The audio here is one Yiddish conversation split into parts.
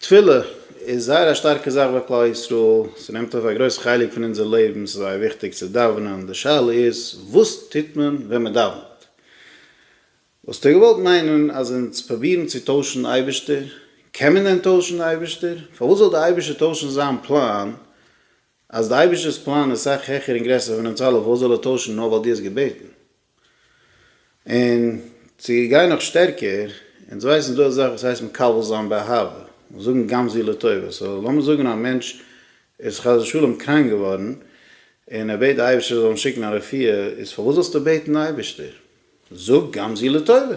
תפילה איז זייער א שטארקע זאך ביי כלל ישראל, ס'נעמט אויף א גרויס חלק פון אונזער לעבן, ס'איז זייער וויכטיג צו דאווענען, די שאלה איז וואס טוט מען ווען מען דאווענט? וואלסטו געוואלט מיינען אז אונז פרובירן צו טוישן אייבערשטער? קען מען דען טוישן די אייבערשטער? פארוואס זאל די אייבערשטער טוישן זיין פלאן? אז די אייבערשטער'ס פלאן איז סאך העכער און גרעסער פון אונז אלע, פארוואס זאל ער טוישן נאר ווייל דו האסט געבעטן? און צו גיין נאך שטערקער, אונז ווייסן ס'דא אזאך וואס הייסט מקבל זיין באהבה, און זאגן גם זו לטובה, סאו לאמיר זאגן א מענטש איז חס ושלום קראנק געווארן, און ער בעט די אייבערשטער זאל אים שיקן א רפואה, איז פארוואס זאלסטו בעטן די אייבערשטער? זאג גם זו לטובה!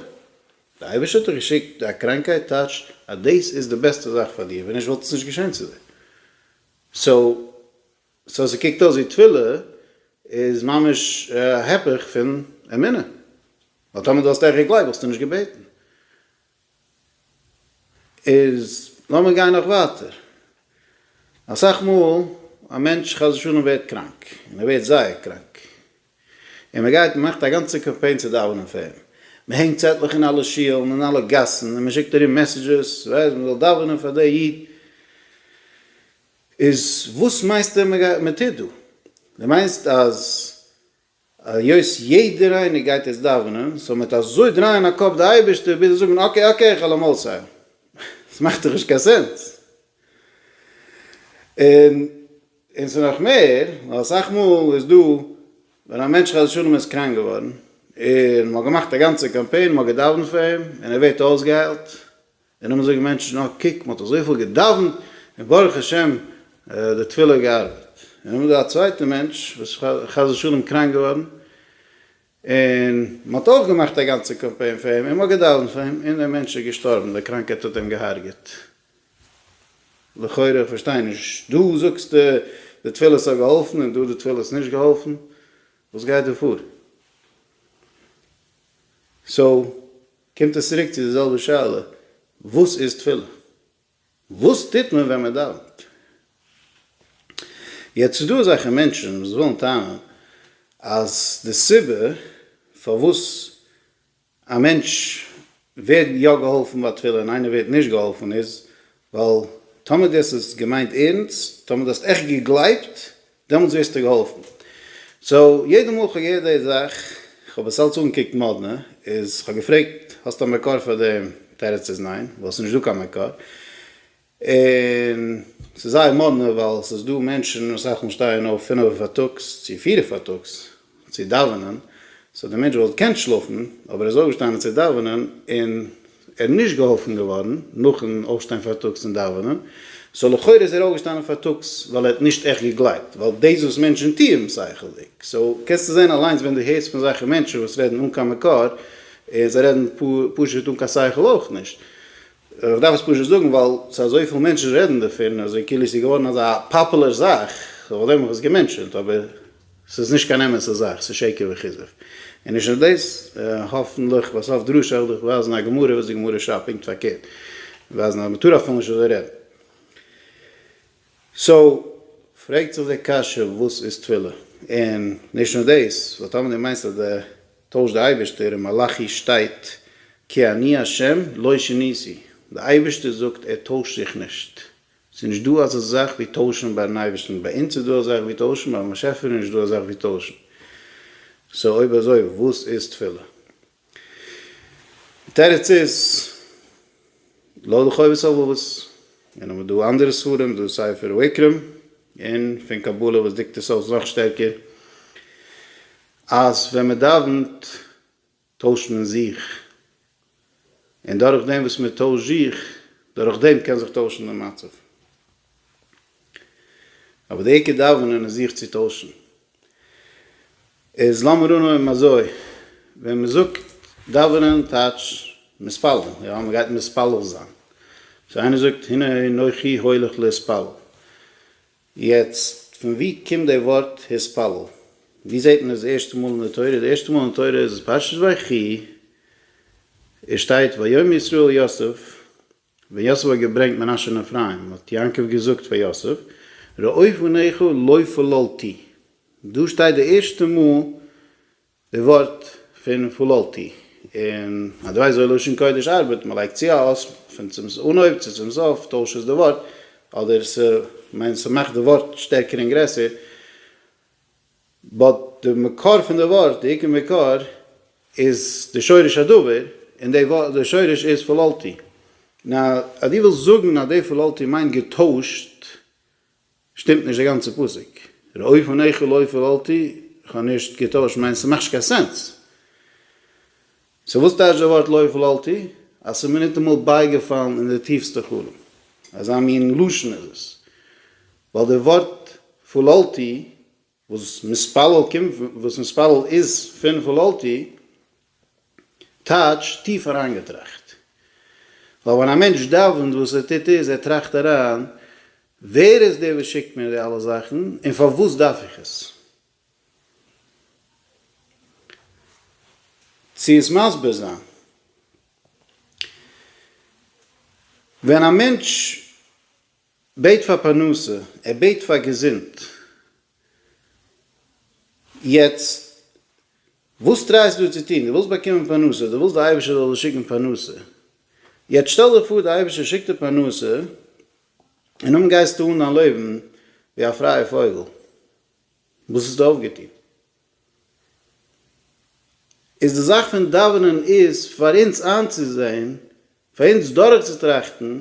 די אייבערשטער האט דיר געשיקט א קראנקייט טייטש אז דאס איז די בעסטע זאך פאר דיר, ווען נישט וואלט עס נישט געשען צו דיר. סאו. סאו ס'קוקט אויס ווי תפילה איז ממש א הפך פון אמונה, ווייל טאמער דו האסט עכט געגלייבט וואלסטו נישט געבעטן. איז לאמיר גיין נאך ווייטער, אסאך מאל א מענטש חס ושלום ווערט קראנק, און ער ווערט זייער קראנק, און מען גייט מ'מאכט א גאנצע קאמפיין צו דאווענען פאר אים, מען הענגט צעטלעך אין אלע שולן אין אלע גאסן, און מען שיקט ארום מעסעדזשעס, ווייסט, מען זאל דאווענען פאר דער איד, איז וואס מיינסטו מען טוט דא? דו מיינסט אז היות יעדער איינער גייט יעצט דאווענען זאל מען מיט אזוי דרייען א קאפ די אייבערשטער ביז זיי זאגן אקעי אקעי איך העל אים אויסהיילן? עס מאכט דאך נישט קיין סענס. און און ס'איז נאך מער ווייל אסאך מאל איז דא ווען א מענטש חס ושלום איז קראנק געווארן און מ'האט געמאכט א גאנצע קאמפיין מ'האט געדאווענט פאר אים און ער ווערט אויסגעהיילט און נאכדעם זאגן מענטשן אה קוק מ'האט אזויפיל געדאוונט און ברוך השם די תפילה האט געארבעט. און נאכדעם איז דא א צווייטע מענטש וואס איז חס ושלום קראנק געווארן און מ'האט אויך געמאכט א גאנצע קאמפיין פאר אים און מ'האט געדאוונט פאר אים און דער מענטש איז געשטארבן די קראנקייט האט אים געהארגעט. לכאורה איך פארשטיי נישט דא זאגסטו די תפילות האט געהאלפן און דא די תפילות האט נישט געהאלפן וואס גייט דא פאר? סאו. קומט עס צוריק צו די זעלבע שאלה, וואס איז תפילה? וואס טוט מען ווען מען דאווענט? יעצט ס'איז דא אזעלכע מענטשן וואס ווילן טענה'ן אז די סיבה פארוואס א מענטש ווערט יא געהאלפן ביי תפילה און איינער ווערט נישט געהאלפן איז ווייל טאמער דו האסט עס געמיינט ערענסט, טאמער דו האסט עכט געגלייבט, דעמאלטס ווערסטו געהאלפן. סאו יעדע מאל כ'האב געהערט די זאך, כ'האב עס אלץ אנגעקוקט מאדנע, איז כ'האב געפרעגט האסט א מקור פאר דעם? תירוץ איז ניין, ווייל עס איז נישט דא קיין מקור. און ס'איז זייער מאדנע ווייל ס'איז דא מענטשן וואס אויך שטייען אויף פינעווע פארטאגס צו פירע פארטאגס, צו דאווענען, סאו דער מענטש וואלט געקענט שלאפן, אבער ער איז אויפגעשטאנען צו דאווענען, און ער איז נישט געהאלפן געווארן נאכן אויפשטיין פארטאגס און דאווענען, סאו לכאורה איז ער אויפגעשטאנען פארטאגס ווייל ער האט נישט עכט געגלייבט, ווייל דאס וואס מענטשן טוען שכל'דיג, סאו קענסטו זען אליינס ווען דו הערסט פון אזעלכע מענטשן וואס רעדן אן קיין מקור, און זיי רעדן פשוט אן קיין שכל אויך נישט, איך דארף עס פשוט זאגן ווייל ס'איז אזויפיל מענטשן רעדן דערפון אזוי כאילו ס'איז געווארן אזא פאפולער זאך, לכבוד דעם האב איך עס געמענטשענט, אבער ס'איז נישט קיין אמת'ע זאך, ס'איז שקר וכזב. און נישט נאר דאס, האפנטליך ביי סוף דרשה וועל איך ווייזן א גמרא וואס די גמרא שרייבט פונקט פארקערט, ווייזן אז מ'טאר אפילו נישט אזוי רעדן. סאו, פרעגט זיך די קשיא וואס איז תפילה? און נישט נאר דאס, ווייל טאמער דו מיינסט אז די טוישט די אייבערשטער און מלאכי שטייט כי אני ה' לא שיניתי, די אייבערשטער זאגט ער טוישט זיך נישט, ס'איז נישט דא אזא זאך ווי טוישן ביי'ן אייבערשטן, ביי אונז איז דא א זאך ווי טוישן, ביים באשעפער איז נישט דא א זאך ווי טוישן, סאו אויב אזוי וואס איז תפילה? די תירוץ איז לא לחובת הלבבות, און האבן דא אנדערע ספרים, דא ספר ויקרא, און פון קבלה וואס דיקט עס אויס נאך שטערקער, אז ווען מען דאווענט טוישט מען זיך, און דורך דעם וואס מען טוישט זיך, דורך דעם קען זיך טוישן די מצב. אבער די עיקר דאווענען איז זיך צו טוישן. איז לאמיר אננעמען אזוי, ווען מען זאגט דאווענען טייטש מתפלל, יא, מען גייט מתפלל זיין. סאו איינער זאגט הנה אנכי הולך להתפלל. יעצט, פון ווי קומט די ווארט התפלל? ווי זעט מען עס די ערשטע מאל אין די תורה? די ערשטע מאל אין תורה איז פרשת ויחי, עס שטייט ויאמר ישראל אל יוסף, ווען יוסף האט געברענגט מנשה און אפרים האט יעקב געזאגט פאר יוסף, ראה פניך לא פללתי, דא שטייט די ערשטע מאל די ווארט פון פללתי און אז דו ווייסט וויאזוי לשון קודש ארבעט, מען לייגט צו א אות פון צום אנהויב צו צום סוף, טוישט עס די ווארט, אדער ס'מיינט ס'מאכט די ווארט שטערקער און גרעסער, באט די מקור פון די ווארט, די עיקר מקור, איז די שורש הדבר, און די ווארט, די שורש איז פללתי. נאר אז דו ווילסט זאגן אז די פללתי מיינט געטוישט, שטימט נישט די גאנצע פסוק. ראוי פון איכה לא פללתי, כ'האב נישט געטוישט מיינס, ס'מאכט נישט קיין סענס. סאו וואס טייטש די ווארט לא פללתי? אז ס'איז מיר ניטאמאל בייגעפאלן אין די טיפסטע חלום. אזא מין לשון איז עס. ווייל די ווארט פללתי. וואס מספלל קומט פון וואס מספלל איז פון פללתי, טייטש טיף אריינגעטראכט. ווייל ווען א מענטש דאווענט וואס ער טוט איז ער טראכט אריין, ווער איז דער וואס שיקט מיר די אלע זאכן און פארוואס דארף איך עס? צו עס מסביר זיין. ווען א מענטש. בעט פאר פרנסה, ער בעט פאר געזונט. יעצט וואס טרייסטו דיר צו טון? דו ווילסט באקומען פרנסה, דו ווילסט די אייבערשטער זאל דיר שיקן פרנסה. יעצט שטעל דיר פאר די אייבערשטער שיקט דיר פרנסה, און נאכדעם גייסטו אן דיין לעבן ווי א פרייע פויגל. וואס האסטו אויפגעטון? איז די זאך פון דאווענען איז פאר אונז איינצוזען, פאר אונז דורכצוטראכטן,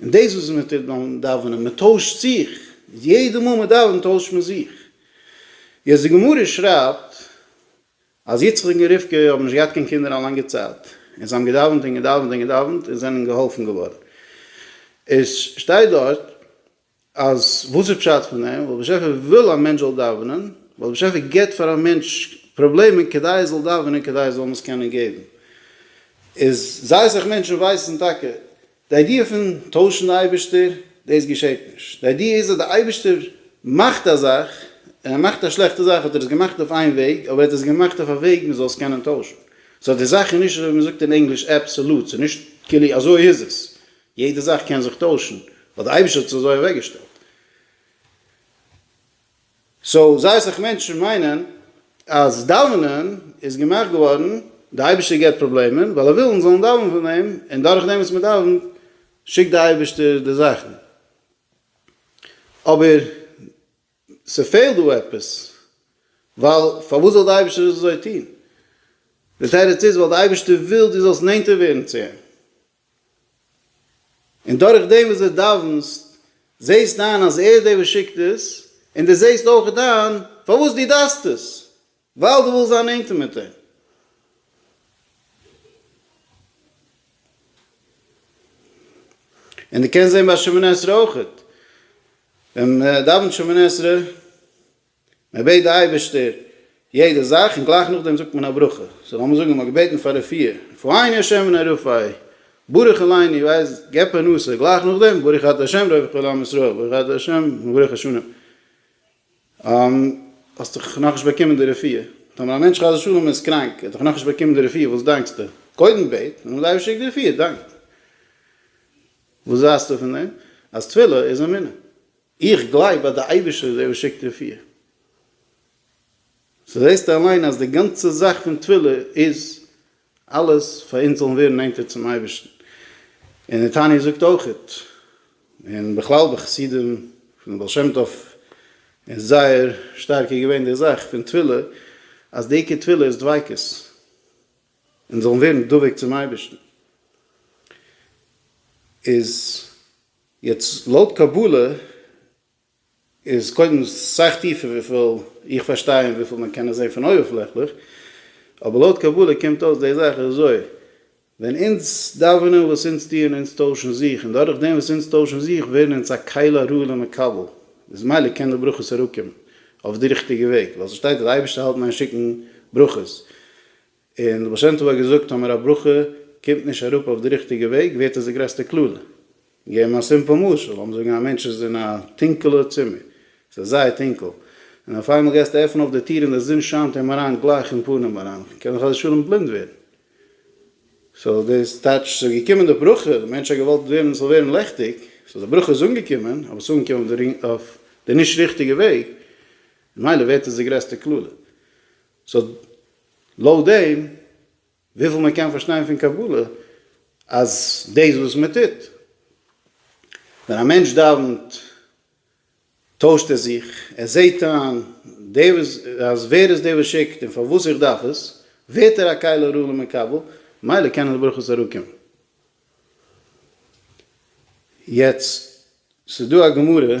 און דאס וואס מען טוט ביים דאווענען, מען טוישט זיך, יעדע מאל מען דאווענט טוישט מען זיך, יעצט די גמרא שרייבט אז יצחק און רבקה האבן נישט געהאט קיין קינדער א לאנגע צייט, און זיי האבן געדאווענט און געדאווענט און געדאווענט און זענען געהאלפן געווארן, עס שטייט דארט אז וואס איז פשט פון דעם, ווייל באשעפער וויל א מענטש זאל דאווענען, ווייל באשעפער געבט פאר א מענטש פראבלעמען כדי ער זאל דאווענען כדי ער זאל עס קענען געבן, איז זייער אסאך מענטשן ווייסן טאקע די איידיע פון טוישן די אייבערשטער, דאס געשעט נישט, די איידיע איז אז די אייבערשטער מאכט א זאך, און ער מאכט א שלעכטע זאך האט ער עס געמאכט אויף איין וועג, אבער ער האט עס געמאכט אויף א וועג מען זאל עס קענען טוישן, סאו די זאך איז נישט אזוי ווי מען זאגט אין ענגליש אבסאלוט, ס'איז נישט כאילו אזוי איז עס, יעדע זאך קען זיך טוישן, ווייל די אייבישטער האט עס אזוי אוועק געשטעלט. סאו זייער סאך מענטשן מיינען אז דאווענען איז געמאכט געווארן, די אייבישטער געבט פראבלעמען ווייל ער וויל אונז זאלן דאווענען פאר אים, און דורך דעם וואס מען דאווענט שיקט די אייבישטער די זאכן. אבער ס'פעלט דא עפעס, ווייל פארוואס זאל די אייבישטער דאס אזוי טון? די תירוץ איז ווייל די אייבישטער וויל דו זאלסט נענטער ווערן צו אים, און דורך דעם וואס דו דאווענסט זעסטו איין אז ער איז דער וואס שיקט עס, און דו זעסט אויך איין פארוואס דו דארפסט עס, ווייל דו ווילסט זיין נענטער מיט אים. און דו קענסט זען ביי שמיני עשרה אויך, ווען מען דאווענט שמיני עשרה, מען בעט די אייבערשטער יעדע זאך און גלייך נאכדעם זאגט מען א ברכה, סאו לאמיר זאגן מען האט געבעטן פאר רפואה, רפאיני השם ונא רפאי, ברוך אליני ווייס גיב פרנסה, גלייך נאכדעם ברוך אתה השם רווח כל עם ישראל, ברוך אתה השם מברך השנים, האסט דאך נאכנישט באקומען די רפואה, טאמער א מענטש חס ושלום איז קראנק, ער האט דאך נאכנישט באקומען די רפואה, וואס דאנקסטו? קודם בעט, און אז די אייבערשטער שיקט די רפואה דאנק. וואס ווייסטו פון דעם אז תפילה איז אמונה? איך גלייב אז דער אייבערשטער איז דער וואס שיקט און פירט. סאו זעסטו אליין אז די גאנצע זאך פון תפילה איז אלעס פאר אונז זאלן ווערן נענטער צום אייבערשטן. און דער תניא זאגט אויך, און בכלל ביי חסידים פון בעל שם טוב איז זייער שטארק געווען די זאך פון תפילה אז די עיקר תפילה איז דביקות. אונז זאלן ווערן דבוק צום אייבערשטן. איז יעצט לויט קבלה איז קודם סאך טיפער וויפיל איך פארשטיי און וויפיל מען קען עס זען פון אויבערפלעכליך, אבער לויט קבלה קומט אויס די זאך איז אזוי, ווען אונז דאווענען וואס אונז טוען אונז טוישן זיך און דורך דעם וואס אונז טוישן זיך ווערן אונז א כלי הראוי למקבל, איז ממילא קען די ברכות אראפקומען אויף די ריכטיגע וועג, ווייל ס'שטייט אז די אייבערשטער האלט מיין שיקן ברכות. און די בעל שם טוב האט געזאגט אז מיר א ברכה קומט נישט אראפ אויף די ריכטיגע וועג ווערט עס די גרעסטע קללה. געבן א סימפל משל, לאמיר זאגן א מענטש איז אין א טונקעלע צימער, עס איז זייער טונקעל, און אויף איינמאל גייסטו עפענען אויף די טיר און די זון שיינט אים אריין גלייך אין פנים אריין, קען ער חס ושלום בלינד ווערן. סאו דאס טייטש ס'איז געקומען די ברכה, די מענטש האט געוואלט ווערן ס'זאל ווערן לעכטיג, סאו די ברכה איז אנגעקומען, אבער ס'איז אנגעקומען אויף די נישט ריכטיגע וועג, ממילא ווערט עס די גרעסטע קללה. סאו לויט דעם וויפיל מען קען פארשטיין פון קבלה אז דאס וואס מען טוט ווען א מענטש דאווענט טוישט ער זיך, ער זעהט איין דער וואס אז ווער איז דער וואס שיקט און פארוואס איך דארף עס, ווערט ער א כלה ראויה למקבל, ממילא קענען די ברכות אראפקומען. יעצט ס'איז דא א גמרא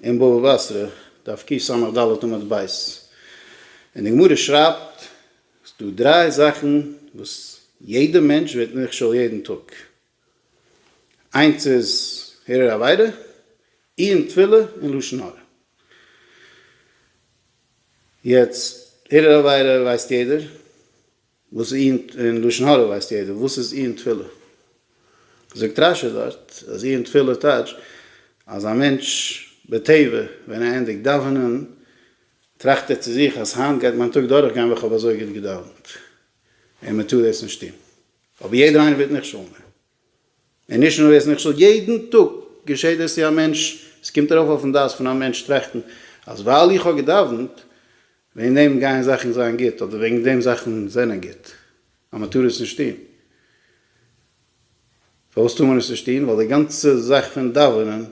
אין בבא בתרא דף קיט סמך ד' עמוד ב', און די גמרא שרייבט ס'איז דא דריי זאכן וואס יעדע מענטש ווערט נכשל יעדן טאג, איינס איז הרהור עבירה, עיון תפילה און לשון הרע. יעצט הרהור עבירה ווייסט יעדער. וואס איז אין אין לשון הרע ווייסט יעדער וואס איז אי אין תפילה. זאגט רש י דארט אז אי אין תפילה טייטש אז א מענטש בטבע ווען ער ענדיגט דאווענען טראכט ער צו זיך אז היינט גייט מיין טאג דורך גיין ווען כ'האב אזוי גוט געדאווענט און מ'טאר דאס נישט טון אבער יעדער איינער ווערט נכשל. און נישט נאר דאס, נכשל, יעדן טאג געשעט דאס צו א מענטש, עס קומט ארויף אויפן דעת פון א מענטש טראכטן אז ווייל איך האב געדאוונט, וועגן דעם גייען זאכן זיין גוט, אדער וועגן דעם זאכן זענען גוט, אז מען טאר עס נישט טון. פארוואס טאר מען עס נישט טון? ווייל די גאנצע זאך פון דאווענען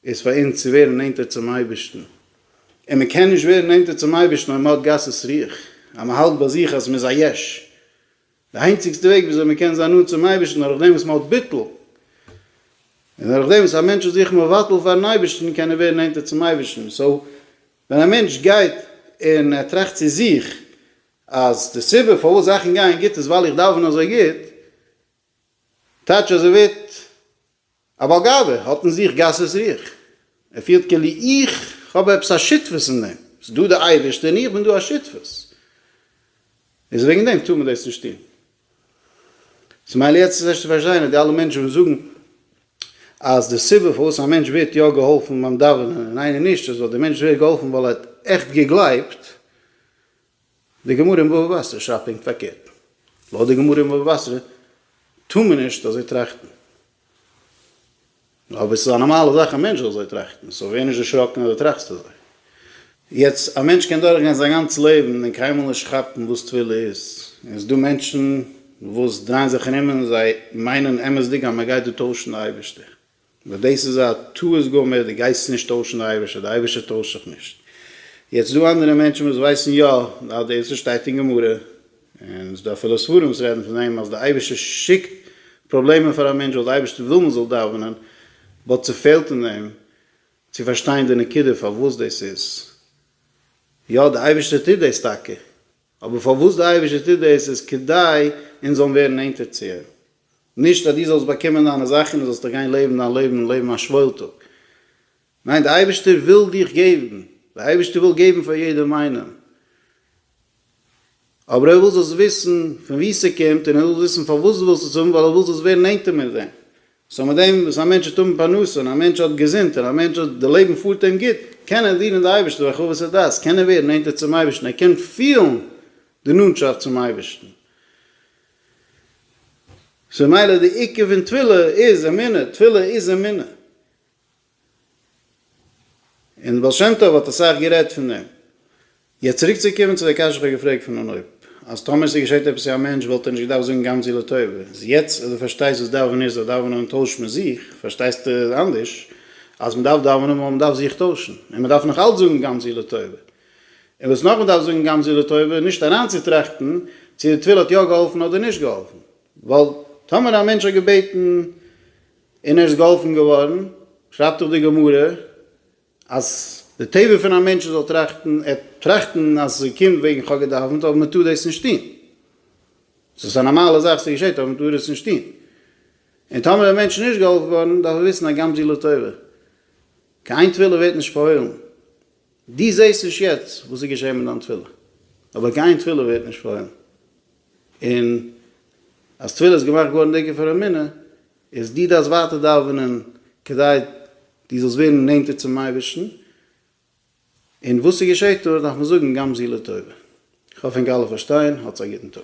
איז פאר אונז צו ווערן נענטער צום אייבערשטן, און מען קען נישט ווערן נענטער צום אייבערשטן אויב מען האט גסות רוח, אז מען האלט ביי זיך אז מען איז א יש. די איינציגסטע וועג וויאזוי מען קען זיין נאנט צום אייבערשטן דורך דעם וואס מען האט ביטול, און דורך דעם וואס א מענטש איז זיך מבטל פארן אייבערשטן קען ער ווערן נענטער צום אייבערשטן, סאו ווען א מענטש גייט און ער טראכט צו זיך אז די סיבה פארוואס זאכן גייען גוט איז ווייל איך דאווען אזוי גוט, טייטש אז ער ווערט א בעל גאווה האט אין זיך גסות רוח, ער פילט כאילו איך האב עפעס א שותפות אין דעם, ס'איז דא דער אייבערשטער און איך בין דא א שותפות, איז וועגן דעם טאר מען דאס נישט טון. סאו מילא יעצט איז ערשט צו פארשטיין אז די אלע מענטשן וואס זאגן אז די סיבה פארוואס א מענטש ווערט יא געהאלפן ביים דאווענען און איינער נישט איז ווייל דער מענטש ווערט געהאלפן ווייל ער האט עכט געגלייבט, די גמרא אין בבא בתרא שרייבט פונקט פארקערט. לויט די גמרא אין בבא בתרא טאר מען נישט אזוי טראכטן. אבער ס'איז א נארמאלע זאך א מענטש זאל אזוי טראכטן, סאו ווער נישט דערשראקן אז דו טראכסט אזוי. יעצט, א מענטש קען דורכגיין זיין גאנץ לעבן און קיינמאל נישט כאפן וואס תפילה איז. און ס'דא מענטשן וואס דרייען זיך ארום און זיי מיינען אמת'דיג אז מ'גייט דא טוישן די אייבערשטער. נאר דאס איז א טעות גמור, דו גייסט נישט טוישן די אייבערשטער, די אייבערשטער טוישט זיך נישט. יעצט דא אנדערע מענטשן וואס ווייסן יא אז דאס וואס שטייט אין גמרא, און ס'דא אפילו ספרים וואס רעדן פון דעם אז די אייבערשטער שיקט פראבלעמען פאר א מענטש ווייל די אייבערשטער וויל מען זאל דאווענען, באט ס'פעלט אין דעם צו פארשטיין די נקודה פארוואס דאס איז. יא די אייבערשטער טוט דאס טאקע, אבער פארוואס די אייבערשטער טוט דאס איז כדי אונז זאלן ווערן נענטער צו אים, נישט אז דו זאלסט באקומען דיינע זאכן און זאלסט דיך גיין לעבן דיין לעבן און לעבן א שוואוילטאג. ניין, דער אייבערשטער וויל דיך געבן, דער אייבערשטער וויל געבן פאר יעדעם איינעם, אבער ער וויל זאלסט וויסן פון וואו ס'קומט און ער וויל וויסן פארוואס דו ווילסט עס האבן, ווייל ער וויל זאלסט ווערן נענטער מיט אים. סאו מיט דעם וואס א מענטש וועט האבן פרנסה און א מענטש האט געזונט און א מענטש האט די לעבן פארט אים גוט, קען ער דינען די אייבערשטן ברחבת הדעת, קען ער ווערן נענטער צום אייבערשטן, ער קען פילן די נאנטשאפט צום אייבערשטן. סאו מילא די עיקר פון תפילה איז אמונה, תפילה איז אמונה. און בעל שם טוב האט אסאך גערעדט פון דעם. יעצט צוריק צו קומען צו די קשיא איך האב געפרעגט פון אנהויב, אז טאמער עס איז געשעט עפעס צו א מענטש וואלט ער נישט געדארפט זאגן גמ ז לטובה, איז יעצט אז דו פארשטייסט וואס דאווענען איז אז דאווענען און טויש מען זיך, פארשטייסטו אנדערש אז מען דארף דאווענען ווייל מען דארף זיך טוישן, און מען דארף נאך אלץ זאגן גמ ז לטובה. און וואס נאך מ'דארף זאגן גם זו לטובה, נישט אריינצוטראכטן צו די תפילה האט יא געהאלפן אדער נישט געהאלפן, ווייל טאמער א מענטש האט געבעטן און ער איז געהאלפן געווארן, שרייבט דאך די גמרא אז די טבע פון א מענטש זאל טראכטן, ער טראכטן אז ס'קומט וועגן כ'האב געדאווענט אבער מ'טאר דאס נישט טון, ס'איז א נארמאלע זאך ס'געשעט אבער מ'טאר עס נישט טון, און טאמער די מענטש איז נישט געהאלפן געווארן דארף ער וויסן אז גם זו לטובה, קיין איין תפילה ווערט נישט פארהוילן. דו זעסט נישט יעצט וואס איז געשען מיט דיין תפילה, אבער קיין תפילה ווערט נישט פארהוילן, און אז תפילה איז געמאכט געווארן דוקא פאר אמונה, איז דו דארפסט ווייטער דאווענען כדי דו זאלסט ווערן נענטער צום אייבערשטן, און וואס ס'געשעט דארט דארף מען זאגן גם זו לטובה. איך האף ענק אלע פארשטייען, האטס א גוטן טאג.